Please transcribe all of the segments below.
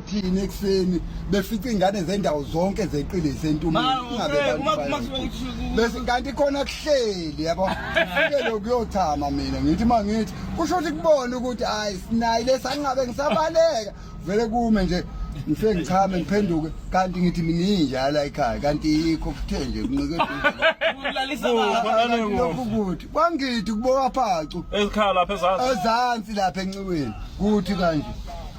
thina ekuseni befica ingane zendawo zonke zeqile sentumakanti khona kuhleli yabo fike kuyothama mina ngithi uma ngithi kusho ukuthi kubona ukuthi hhayi sinayi lesanqabe ngisabaleka vele kume nje ngifike ngichame ngiphenduke kanti ngithi mina injalo ayikhaya kanti yikho kuthe nje kunqekelokhu kuthi kwangithi kubowaphacu ezikhala lapha ezansi lapha enxiweni kuthi kanje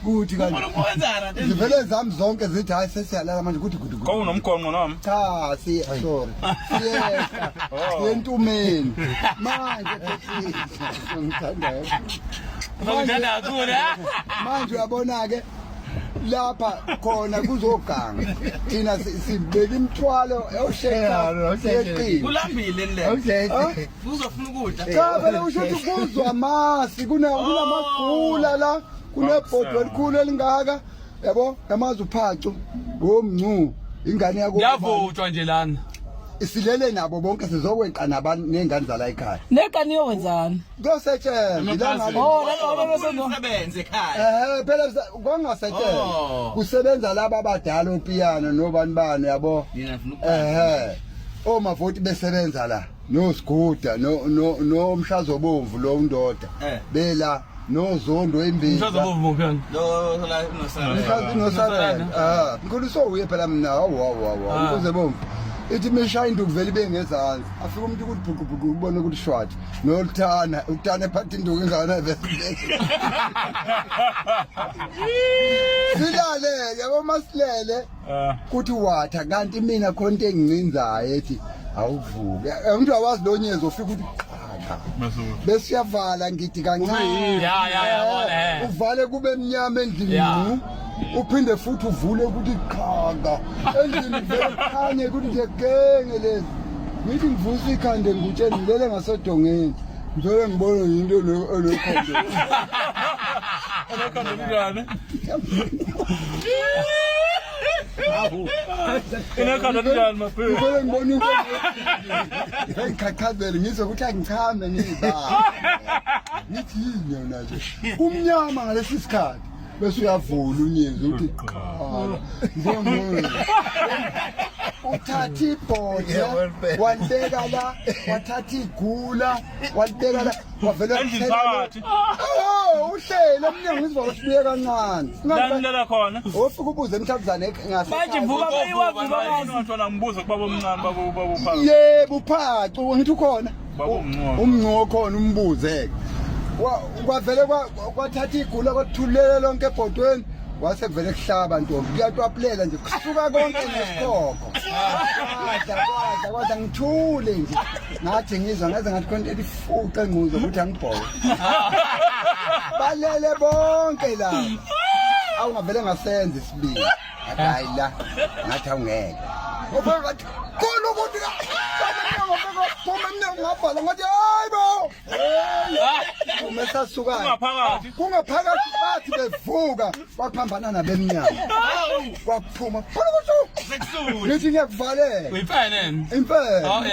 kuthi kanti Ufuna ukwenzana nje. zivele zami zonke zithi hayi sesiyalala manje kuthi gudu gudu Kowunomgonqo noma? cha siya sorry siyehla siyentumeni manje bhekisa ngithandayo Ngithanda kakhulu ha. manje uyabona-ke lapha khona kuzoganga thina si- sibeka imithwalo Yeah, osheka okay. yeqini Kulambile le. Huh? Uzofuna ukudla. Cha phela usho ukuthi kuzwa amasi kuna oh. kunamagula la kunebhodwe elikhulu elingaka yabo yamazi uphacu womncu ingane yakho. Yavutshwa nje lana. isilele nabo bonke sizokweqa nabantu nezingane zala ekhaya neqa niyowenzani kuyosetshenzwa ilanga oh lalosebenze ekhaya eh phela kongasetshenzwa oh. kusebenza laba abadala opiyano nobani bani yabo eh omavoti besebenza la no siguda no no no umhlazo bomvu lo undoda eh. bela no zondo embili umhlazo bomvu muphi yani lo la no sala umhlazo no sala ah ngikho so uye phela mina hawu hawu hawu ah. umhlazo bomvu ithi mishaya into kuvela ibe ngezansi afika umuntu ukuthi bhuqu bhuqu ubone ukuthi shwathi noluthana uthana ephatha induku ingana silale yabo masilele Eh. kuthi watha kanti mina khona into engincinzayo ethi awuvuke Eh, umuntu awazi lo nyezo ufika ukuthi qhaqa Masuku. bese uyavala ngidi kancane Ya, ya, ya, bona, eh. uvale kube mnyama endlini Ya. ngqu. uphinde futhi uvule ukuthi qhaqa endlini vele khanye ukuthi ngegenge lezi ngithi ngivusa ikhande ngutsheni ngilele ngasodongeni Ngicela ngibone yinto enekhonto. Enekhonto kunjani? Enekhonto kunjani mafethu? Ngicela ngibone into. Ngichachazelwe ngizwe ukuthi angichame ngizibaba. Ngithini yona nje? Kumnyama ngalesi sikhathi. bese uyavula unyezi uthi qala njengomuntu uthatha ibhodla walibeka la wathatha igula walibeka la wavela uhlele emnyango izivalo sibuye kancane langilela khona ofika ubuze emthabuzane manje vuka bayiwavuka manje ngithola ngibuze kubaba omncane babo babo yebo uphacu ngithi ukhona umncingo okhona umbuze-ke kwavele kwathatha igula kwathulele lonke ebhodweni wase kuvele kuhlaba ntombi kuyatwapulela nje kusuka konke nesikhokho kwadla kwadla kwadla ngithule nje ngathi ngizwa ngaze ngathi khona elifuqa engquzo ukuthi angibhoke balele bonke laba awungavele ngasenza isibili ngathi hayi la ngathi awungeke ngofika ngathi khona ukuthi phuma emnyango ngabhala ngathi hayi bo umesasukana kungaphakathi bathi bevuka baphambana nabemnyango kwakuphuma khona ukuthi ngithi ngiyakuvalela impela oh,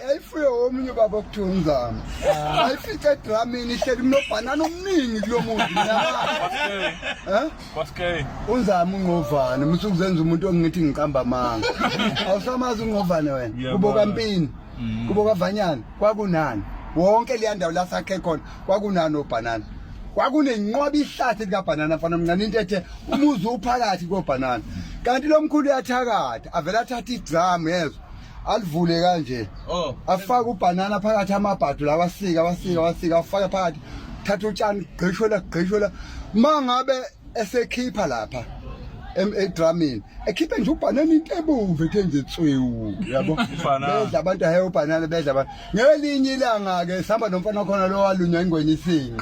yayifuye omunye ubaba okuthiwa umzama ayifice edramini ihleli mnobhanana omningi kulo muntu Kwaske. Unzama ungqovane, musu kuzenza umuntu ongithi ngiqamba amanga. Awusamazi ungqovane wena. Kubo kampini. Mm. Kubo kavanyana, kwakunani. Wonke le ndawo la sakhe khona, kwakunani obhanana. Kwakunenqoba ihlathi lika banana mfana mncane into ethe umuzi uphakathi ko banana. Kanti lomkhulu uyathakatha, avela athatha idrum yezwa. alivule kanje oh. afake ubhanana phakathi amabhadu lawa asika wasika wasika afake phakathi thatha utshani gqishwela gqishwela uma ngabe esekhipha lapha edramini ekhiphe nje ubhanana into ebomvu ethe nje tswewu yabo bedla abantu ahe ubhanana bedla abantu ngelinye ilanga-ke sihamba nomfana khona lo walunywa ingwenyisini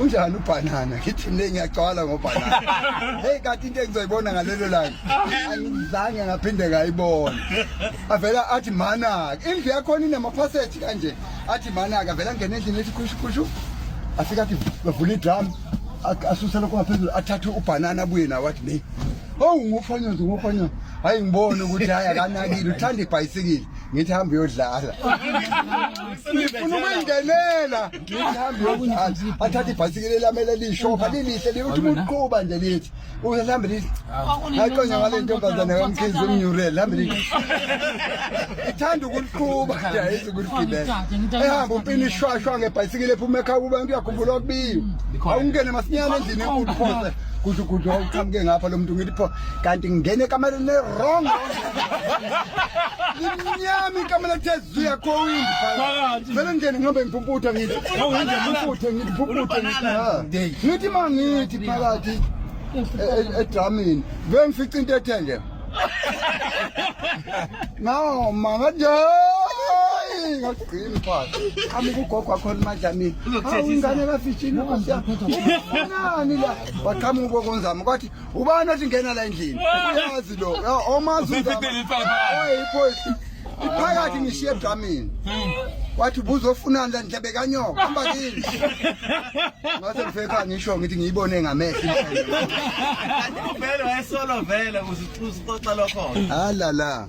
unjani ubhanana ngithi mne ngiyagcwala ngobhanana heyi kanti into engizoyibona ngalelo langa angizange ngaphinde ngayibona avela athi manaka indlu yakhona inamaphaseji kanje athi manaka avela ngena endlini ethi khushukhushu afike athi bavula idram asuse lokho ngaphezulu athathe ubhanana abuye nawo athi ne owu oh, ngufanyozi ngufanyozi hayi ngibone ukuthi hayi akanakile uthanda ibhayisikile ngithi hambe uyodlala ngifuna ukuyingenela athathe ibhayisikili elamele lishopha lilihle liyothi umuntu qhuba nje lithi uhambe lithi aqonya ngale ntombazane kamkhizi umnyurele hambe lithi ithanda ukuliqhuba nje ayizi ukuligibela ehamba umpini ishwashwa ngebhayisikili ephuma ekhaya kuba kuyakhumbula okubiwe awungene masinyane endlini enkulu phose kusho ukuthi wawuqhamuke ngapha lo muntu ngithi pho kanti ngingene ekameleni le-wrong limnyama ikamela kuthe siyakhowindi phakathi vele ngingene ngihambe ngiphumputha ngithi ngiphumputhe ngithi phuputhe ngithi ngithi mangithi phakathi edramini vele ngifica into ethe nje nawo manga nje ngagcini phakathi ami kugogo akhona madlamini awu ingane kafishini ufunani la waqhamuka ubokonzama kwathi ubani othi ngena la endlini uyazi lo omazi iphoyisa iphakathi ngishiye edramini wathi ubuzofunani la ndlebe kanyoka hamba kini ngase ngifeka ngisho ngithi ngiyibone ngamehlo vele wayesolo vele uzixoxa lokho halala